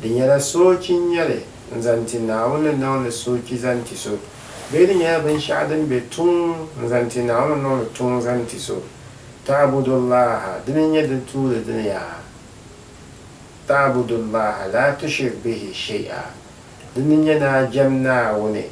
Di nyɛla soochi n-nyɛ li n-zaŋ ti Naawuni ni niŋ li soochi zaŋ ti so, bee di nyɛla binshɛɣu din be tuun n-zaŋ ti Naawuni ni niŋ li tuun zaŋ ti so? Ta'budullaaha, di mi nyɛ din tuuli di ni yaa ta'budullaaha laa tushrik bihi shay'a, di ni nyɛ ni a jɛm Naawuni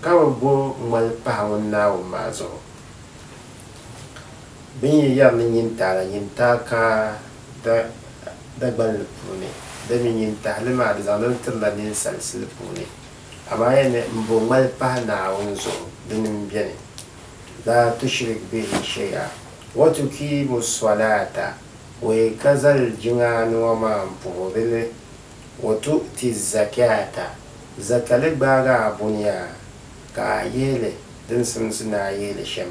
ka bi bo ŋmali pahi Ŋun Naawuni maa zuɣu. Bɛ ni yɛri ni nyin taai la, nyin taai ka da Dagban li puuni, dami nyin tahi li maa di zaŋdi li tiri la ninsal sili puuni. Amaa ya ni m bo ŋmali pahi Naawuni zuɣu, dini m-beni, La tushrik bihi shay'a, wa tukiimu sswalaata, we ka zal jiŋaani ŋɔ maa m-puhiri li, wa tu'ti zzakaata, zaka li gbaagi a buniaa, ka a yihi li din simsi ni a yihi li shem.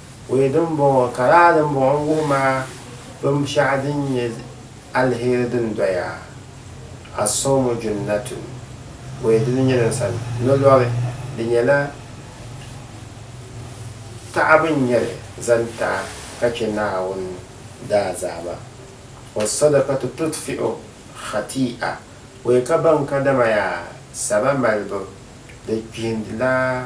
Wee din bɔŋɔ, ka lala din bɔŋɔ n-wuhi ma binshɛɣu din nyɛ aliheri din doya, As-sawmu junnatun, wee dini nyɛ din sani ni lɔri, di nyɛla taɣibu n-nyɛ li zaŋ ti a ka chɛ Naawuni daazama, was-sadakatu tutfi'u khati'a, wee ka baŋ ka dama yaa saba malibu di kpihindila.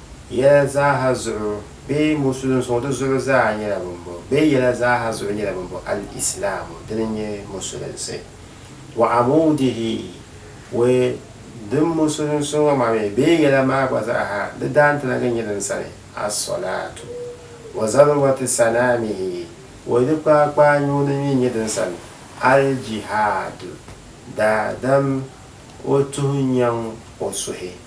Yɛla zaaha zuɣu bee musulim suŋ di zuɣu zaa nyɛla bimbɔŋɔ bee yɛla zaaha zuɣu nyɛla bimbɔŋɔ al-islaamu dini n nyɛ musulinsi wa amuudihi we din musulim suŋ ŋɔ maa mi bee yɛla maa gba zaaha di daantanagi n nyɛ din sani as-solaatu wa zarwati sanaamihi we di kpaakpaa nyuuni mi n nyɛ din sani al-jihaadu daadam o tuhi nyaŋ o suhi.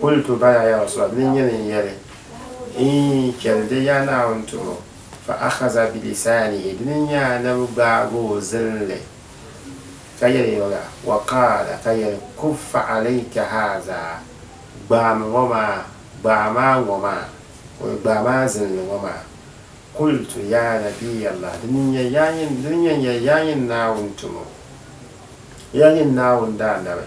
Kultu, Bala ya Rasul, di ni nyɛ ni n-yɛli, Iin, chɛli di Yaa Naawuni tumo. Fa akhaza bi lisaanihi, di ni nyɛ Anabi gbaag o zilinli ka yɛli o la, wa qaala, ka yɛli, Kuffa alayka haaza, gbaam ŋɔ maa, gbaai maa ŋɔ maa, kuli gbaai maa zilinli ŋɔ maa. Kultu, Ya Nabiyyallah, di ni nyɛ ya nyini, di ni nyɛ n-yɛli, Ya nyini Naawuni tumo, ya nyini Naawuni Daanabi.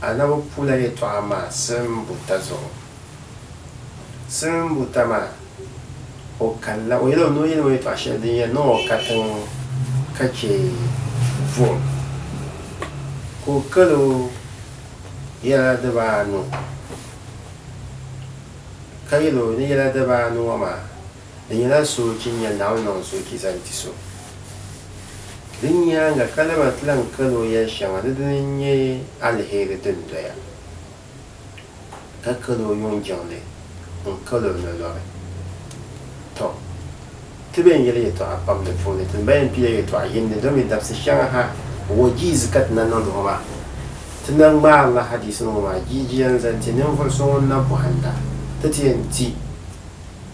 Anabi pula yɛtɔɣa maa silim buta zuɣu. Silim buta maa, o kanila, o yɛlimi ni o yɛlimi yɛtɔɣa shɛli din yɛn niŋ o katiŋ ka chɛ vuhim, ka o kalo yɛla dibaa anu, ka yɛl o ni yɛla dibaa anu ŋɔ maa. Di nyɛla soochi n-nyɛ Naawuni niŋ soochi zaŋ ti so. Di nyaaŋa ka lahi ti lan kal o yɛl shɛŋa ni dini n-nyɛ aliheri din doya, ka kal o yuŋ jiŋli n-kal o ni lɔri. Tɔ! Ti bɛn yɛli yɛtɔɣa pam di puuni, ti ni bɛn pila yɛtɔɣ yini ni domi dabisi shɛŋa ha wajiizi ka ti na niŋdi ŋɔ maa. Ti na ŋmaarila hadiisinima ŋɔ maa jiijiya n-zaŋ ti ninvuɣ so ŋun na bɔhindi a ti ti yɛn ti.